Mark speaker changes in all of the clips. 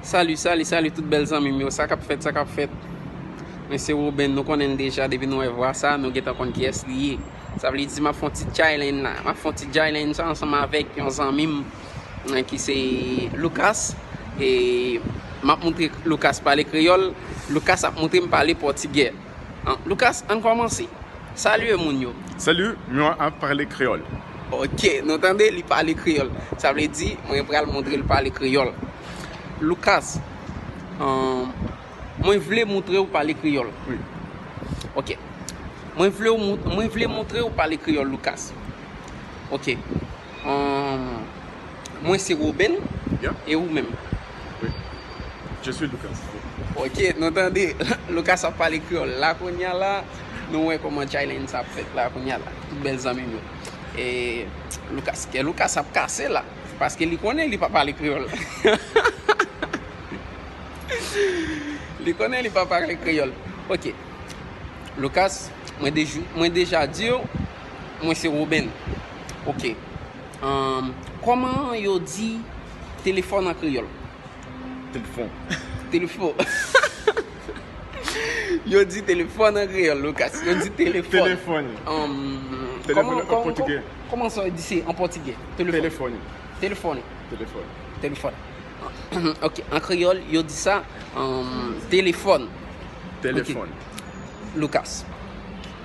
Speaker 1: Salut salut salut tout bèl zanmim yo sakap fèt sakap fèt mwen se Roben nou konnen deja depi nou wè vwa sa nou gentan konn kiyès li ye sa vle di map fon ti Jaylen la map fon ti Jaylen sa ansanm avèk yon zanmim ki se Lucas e map moutre Lucas pale kreyòl Lucas ap moutrem pale pòtigè. Lucas, ann kòmanse. Salye moun yo. Salut, mwen
Speaker 2: ap pale kreyòl. Ok, nou
Speaker 1: tande li pale kreyòl. Sa vle di, mwen pral montre l pale kreyòl. Lucas, mwen vle montre w pale kreyòl. Wi.
Speaker 2: Ok.
Speaker 1: Mwen vle montre w pale kreyòl, Lucas. Ok. Humm mwen se Roben e ou menm?
Speaker 2: Wi je suis Lucas. Ok nou
Speaker 1: tande Lucas ap pale kreyòl la kounya la nou wè kòman challenge sa ap fèt la kounya la tout bèl zanmim yo e Lucas kè Lucas ap kase la paske li konnen li pa pale kreyòl hahahaa li konnen li pa pale kreyòl ok Lucas mwen deja diw Mwen se Roben. Ok. Umm kòman yo di telefòn an kreyòl? Telefon. Telefo. Yo di telefòn an kreyòl Lucas. Yo di telefòn. Telefòn.
Speaker 2: Umm Telefòn an pòtigè. Kòman sa yo di se
Speaker 1: an pòtigè? Telefòn. Telefòn. Telefòn. Telefòn. Ok. An kreyòl yo di sa umm telefòn. Telefòn. Lucas.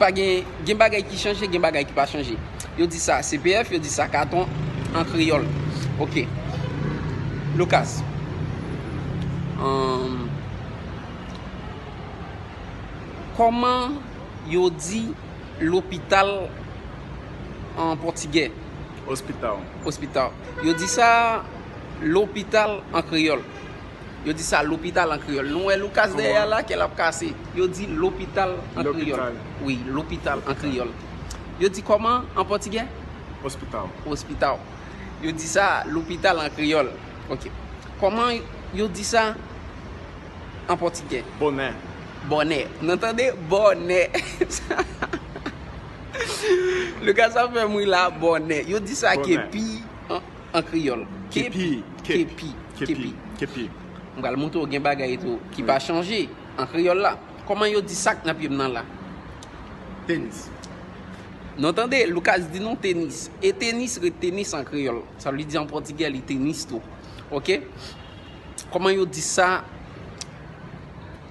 Speaker 1: Pa gen, gen bagay ki chanje, gen bagay ki pa chanje. Yo di sa CPF, yo di sa katon an kreyòl. Ok. Lucas. Hum, Kòman yo di lopital an pòtigè? Hospital. Hospital. Yo di sa lopital an kreyòl. Yo di sa lopital an kreyòl. Nou wè Lucas dèyè a la, kè l ap kase. Yo di lopital an kreyòl. Lopital. Wi, lopital an Lopital. kreyòl. Yo di kòman an pòtigè? Hospital. Hospital. Yo di sa lopital an kreyòl. Ok. Kòman yo di sa an pòtigè? Bonè.
Speaker 2: Bonè. Nou
Speaker 1: tande? Bonè. Lucas ap fè m ri la. Bonè. Yo di sa Bonè. kepi an an kreyòl Kepi
Speaker 2: Kepi Kepi Kepi
Speaker 1: M pral montre w gen bagay tou ki pa chanje an kreyòl la Kòman yo di sak nan pye m nan la? Tenis Non tande, Lucas di nou tenis E tenis ret tenis an kreyòl Sa vle di an pòtigè li tenis tou Ok Kòman yo di sa?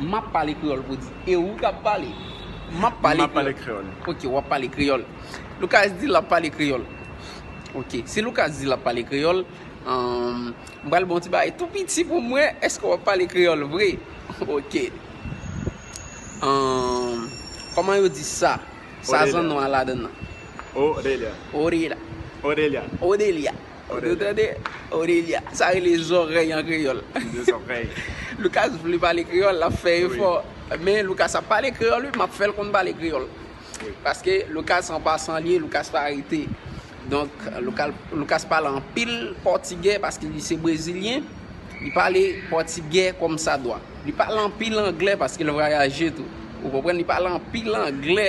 Speaker 1: M ap pale kreyòl pou di. E ou k ap pale? M ap pale kreyòl. Ok, w ap
Speaker 2: pale kreyòl.
Speaker 1: Lucas di l ap pale kreyòl. Ok, si Lucas di l ap pale kreyòl, m pral ba w yon ti bagay tou piti pou m wè èske w ap pale kreyòl vre. Ok. Kòman yo di sa? Sa zanno a ladan l lan?
Speaker 2: Odelya.
Speaker 1: Odelya.
Speaker 2: Odelya.
Speaker 1: Ou tande Odelia, sa rele zòrèy an kreyòl.
Speaker 2: Lucas vle
Speaker 1: pale kreyòl, l ap fè efò. Men Lucas ap pale kreyòl wi, m ap fè l konn pale kreyòl. Paske
Speaker 2: Lucas
Speaker 1: an pasan li ye, Lucas pa rete. Donk Lucas pale anpil pòtigè paske li se brezilyen. Li pale pòtigè kòm sa dwa. Li pale anpil anglè paske l vwayaje tou. Ou konprann? Li pale anpil anglè.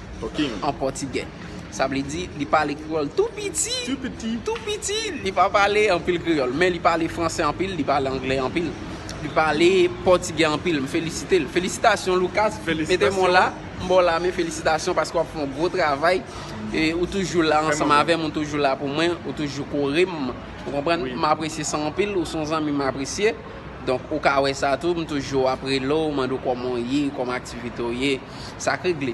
Speaker 1: Talking.
Speaker 2: An pòtigè.
Speaker 1: Sa vle di, li pale kreyòl tou piti. Tou piti. Tou piti.
Speaker 2: Li
Speaker 1: pa pale anpil kreyòl. Men li pale franse anpil, li pale angle anpil. Li pale pòtigè anpil. M felisite l. Felisitasyon Lucas. Felisitasyon. Mete m w la. M ba w lame. Felisitasyon paske w ap fè yon gwo travay. E ou toujou la ansanm avè m. Ou toujou la pou mwen. Ou toujou kore m. Ou konprann? M apresye sa anpil. Ou se yon zanmi m apresye. Donk ou ka wè sa tou. M toujou ap rele w, mande w kòman w ye, kòman aktivite w ye. Sa k regle.